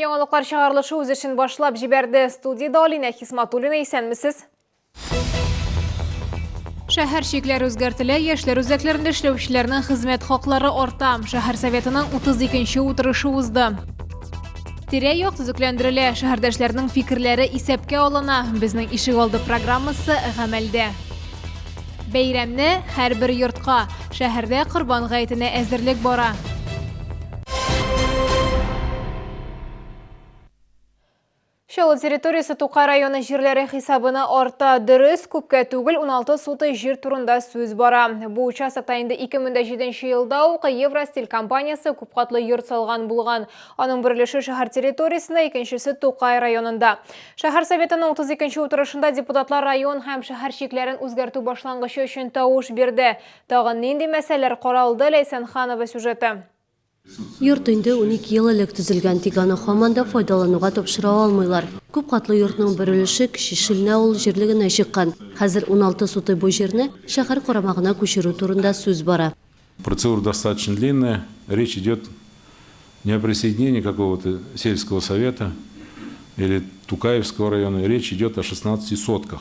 Яңалыклар чыгарылышы үз эшен башлап җибәрде. Студиядә Алинә Хисматуллина исәнмесез? Шәһәр чикләре үзгәртелә, яшьләр үзәкләрендә эшләүчеләрнең хезмәт хаклары арта. Шәһәр советының 32 нче утырышы узды. Тирә-як төзекләндерелә, шәһәрдәшләрнең фикерләре исәпкә алына. Безнең ишек алды программасы гамәлдә. Бәйрәмне һәрбер йортка, шәһәрдә Корбан гаетенә әзерлек бара. Чаллы территориясе Тукай районы җирләре хисабына арта. Дөрес, күпкә түгел 16 суты җир турында сүз бара. Бу участокта инде 2007 елда ук Евростиль компаниясе күпкатлы йорт салган булган. Аның бер өлеше шәһәр территориясендә, икенчесе Тукай районында. Шәһәр советының 32 утырышында депутатлар район һәм шәһәр чикләрен үзгәртү башлангычы өчен тавыш бирде. Тагын нинди мәсьәләләр каралды, Ләйсән Ханова сюжеты. Йорт инде унике ел элек төзелгән, тик аны һаман да файдалануга тапшыра алмыйлар. Күп катлы йортның бер өлеше Кече Шилнә авыл җирлегенә чыккан. Хәзер уналты сутый бу җирне шәһәр карамагына күчерү турында сүз бара. Процедура достаточно длинная, речь идет не о присоединении какого-то сельского совета или Тукаевского района, речь идет о 16 сотках.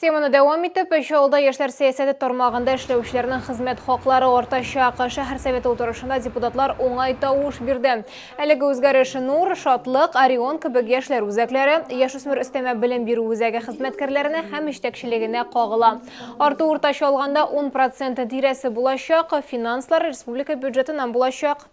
Теманы дәвам итеп, өч авылда яшьләр сәясәте тармагында эшләүчеләрнең хезмәт хаклары артачак. Шәһәр советы утырышында депутатлар уңай тавыш бирде. Әлеге үзгәреш Нур, Шатлык, Орион кебек яшьләр үзәкләре, яшүсмер өстәмә белем бирү үзәге хезмәткәрләренә һәм җитәкчелегенә кагыла. Арту уртача алганда 10 проценты тирәсе булачак, финанслар республика бюджетыннан булачак.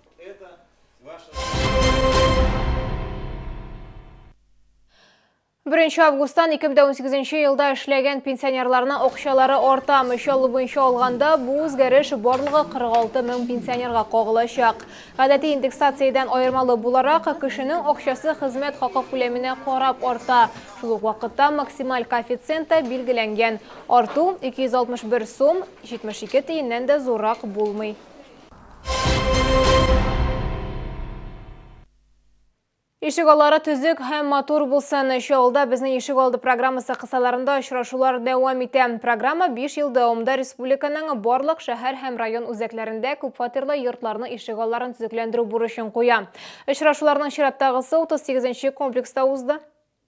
Беренче августтан 2018 елда эшләгән пенсионерларның акчалары арта. Мичаллы буенча алганда, бу үзгәреш барлыгы 46 мең пенсионерга кагылачак. Гадәти индексациядән аермалы буларак, кешенең акчасы хезмәт хакы күләменә карап арта. Шул ук вакытта максималь коэффициент та билгеләнгән. Арту 261 сум 72 тиеннән дә зуррак булмый. Ишегаллары төзек һәм матур булсын. Чаллыда безнең ишегалды программасы кысаларында очрашулар дәвам итә. Программа 5 ел дәвамында республиканың барлык шәһәр һәм район үзәкләрендә күпфатирлы йортларның ишегалларын төзекләндерү бурычын куя. Очрашуларның чираттагысы 38 нче комплекста узды.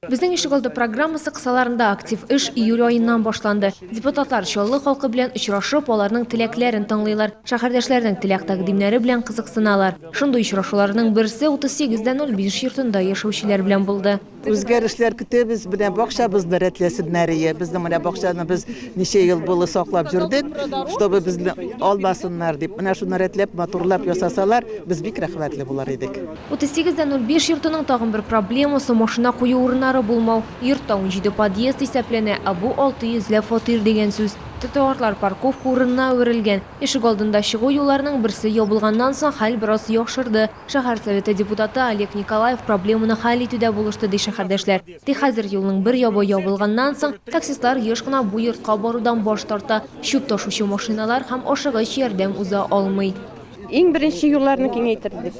Безнең ишегалды программасы кысаларында актив эш июль аеннан башланды. Депутатлар Чаллы халкы белән очрашып, аларның теләкләрен тыңлыйлар, шәһәрдәшләренең теләк-тәкъдимнәре белән кызыксыналар. Шундый очрашуларның берсе 38 дә 05 йортында яшәүчеләр белән булды. Үзгәрешләр көтәбез, менә бакчабызны рәтләсеннәр ие. Безнең менә бакчаны без ничә ел булы саклап җөрдек, чтобы безне алмасыннар дип. Менә шуны рәтләп, матурлап ясасалар, без бик рәхмәтле булыр идек. 38 дә 05 йортының тагын бер проблемасы, машина кую урыннары булмау. Йортта 17 подъезд исәпләнә, ә бу 600 ләп фатир дигән сүз. Тротуарлар парковка урынына әверелгән. Ишегалдында чыгу юлларының берсе ябылганнан соң хәл бераз яхшырды. Шәһәр Советы депутаты Олег Николаев проблеманы хәл итүдә булышты, ди шәһәрдәшләр. Тик хәзер юлның бер ябы ябылганнан соң, таксистлар еш кына бу йортка барудан баш тарта, чүп ташучы машиналар һәм ашыгыч ярдәм уза алмый. Иң беренче юлларны киңәйтербез.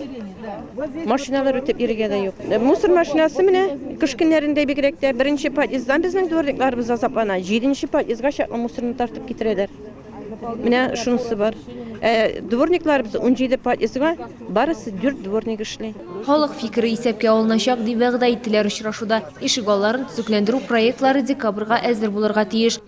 Машиналар үтеп йөрергә дә юк. Мусор машинасы менә кыш көннәрендә бигрәк тә беренче подъезддан безнең дворникларыбыз азаплана. Җиденче подъездга чаклы мусорны тартып китерәләр. Менә шунысы бар. Ә дворникларыбыз 17 подъездга барысы 4 дворник эшли. Халык фикере исәпкә алыначак, дип вәгъдә иттеләр очрашуда. Ишегалларын төзекләндерү проектлары декабрьгә әзер булырга тиеш.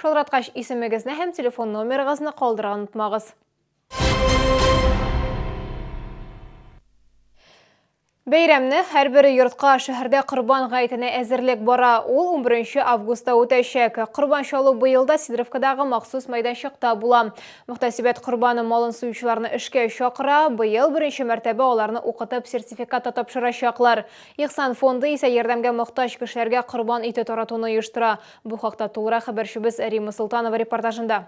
Шалтыраткач, исемегезне һәм телефон номерыгызны калдырырга онытмагыз. Бәйрәмне һәрбер йортка шәһәрдә Корбан гаетенә әзерлек бара. Ул 11 августта үтәчәк. Корбан чалу быел да Сидоровкадагы махсус мәйданчыкта була. Мөхтәсибәт корбаны малын суючыларны эшкә чакыра. Быел беренче мәртәбә аларны укытып сертификат та тапшырачаклар. Ихсан фонды исә ярдәмгә мохтаҗ кешеләргә корбан ите таратуны оештыра. Бу хакта тулырак хәбәрчебез Рима Солтанова репортажында.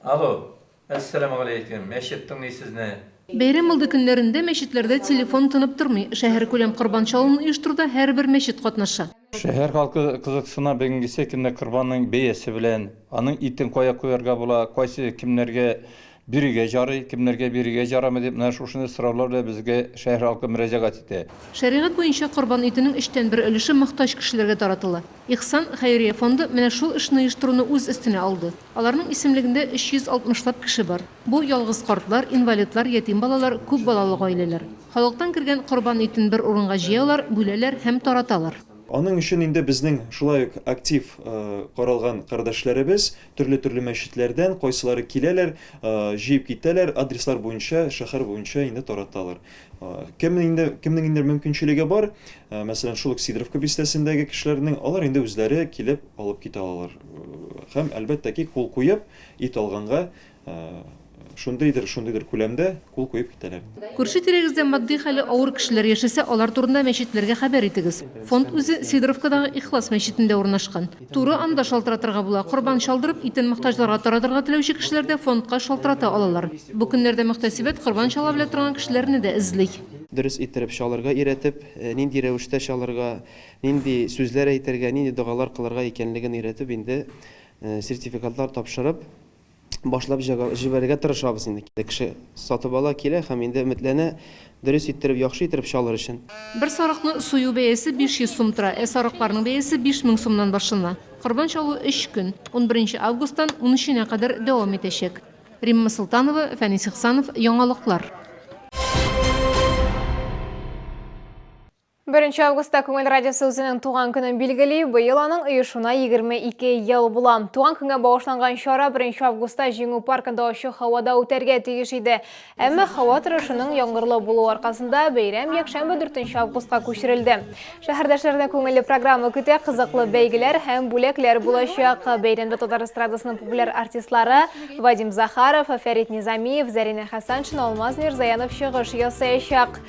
Алло, әссәламегаләйкем, мәчет тыңлый сезне. Бәйрәм алды көннәрендә мәчетләрдә телефон тынып тормый. Шәһәркүләм корбан чалуын оештыруда һәрбер мәчет катнаша. Шәһәр халкы кызыксына бүгенгесе көнне корбанның бәясе белән, аның итен кая куярга була, кайсы кемнәргә Бирергә җарый, кемнәргә бирергә җарамый дип менә шушындый сораулар белән безгә шәһәр халкы мөрәҗәгать итә. Шәригать буенча корбан итенең өчтән бер өлеше мохтаҗ кешеләргә таратыла. Ихсан хәйрия фонды менә шул эшне оештыруны үз өстенә алды. Аларның исемлегендә 360 лап кеше бар. Бу, ялгыз картлар, инвалидлар, ятим балалар, күп балалы гаиләләр. Халыктан кергән корбан итен бер урынга җыялар, бүләләр һәм тараталар. Аның өчен инде безнең шулай ук актив каралган кардәшләребез, Төрле-төрле мәчетләрдән кайсылары киләләр, җыеп китәләр, адреслар буенча, шәһәр буенча инде тараталар. Кем инде, кемнең инде мөмкинчелеге бар, мәсәлән, шул ук Сидоровка бистәсендәге кешеләрнең, алар инде үзләре килеп алып китә алалар. Һәм, әлбәттә ки, кул куеп, ит алганга, шундыйдыр, шундыйдыр күләмдә кул куеп китәләр. Күрше-тирәгездә матди хәле авыр кешеләр яшәсә, алар турында мәчетләргә хәбәр итегез. Фонд үзе Сидоровкадагы Ихлас мәчетендә урнашкан. Туры анда шалтыратырга була, корбан чалдырып, итен мохтаҗларга таратырга теләүче кешеләр дә фондка шалтырата алалар. Бу көннәрдә мөхтәсибәт корбан чала белә торган кешеләрне дә эзли. Дөрес иттереп чалырга өйрәтеп, нинди рәвештә чалырга, нинди сүзләр әйтергә, нинди догалар кылырга икәнлеген өйрәтеп, инде сертификатлар тапшырып, башлап җибәрергә тырышабыз инде. Кеше сатып ала, килә һәм инде өметләнә, дөрес иттереп, яхшы иттереп чалыр өчен. Бер сарыкны сую бәясе 500 сум тора, ә сарыкларның бәясе 5000 сумнан башлана. Корбан чалу өч көн, унберенче августтан унөченә кадәр дәвам итәчәк. Римма Солтанова, Фәнис Ихсанов, Яңалыклар. Беренче августта Күңел радиосы үзенең туган көнен билгели. Быел аның оешуына 22 ел була. Туган көнгә багышланган чара 1 августта Җиңү паркында ачы һавада үтәргә тиеш иде. Әмма һава торышының яңгырлы булуы аркасында бәйрәм якшәмбе 4 августка күчерелде. Шәһәрдәшләрне күңелле программа көтә, кызыклы бәйгеләр һәм бүләкләр булачак. Бәйрәмдә татар эстрадасының популяр артистлары Вадим Захаров, Фәрит Низамиев, Зәринә Хәсәншина, Алмаз Мирзаянов чыгыш ясаячак.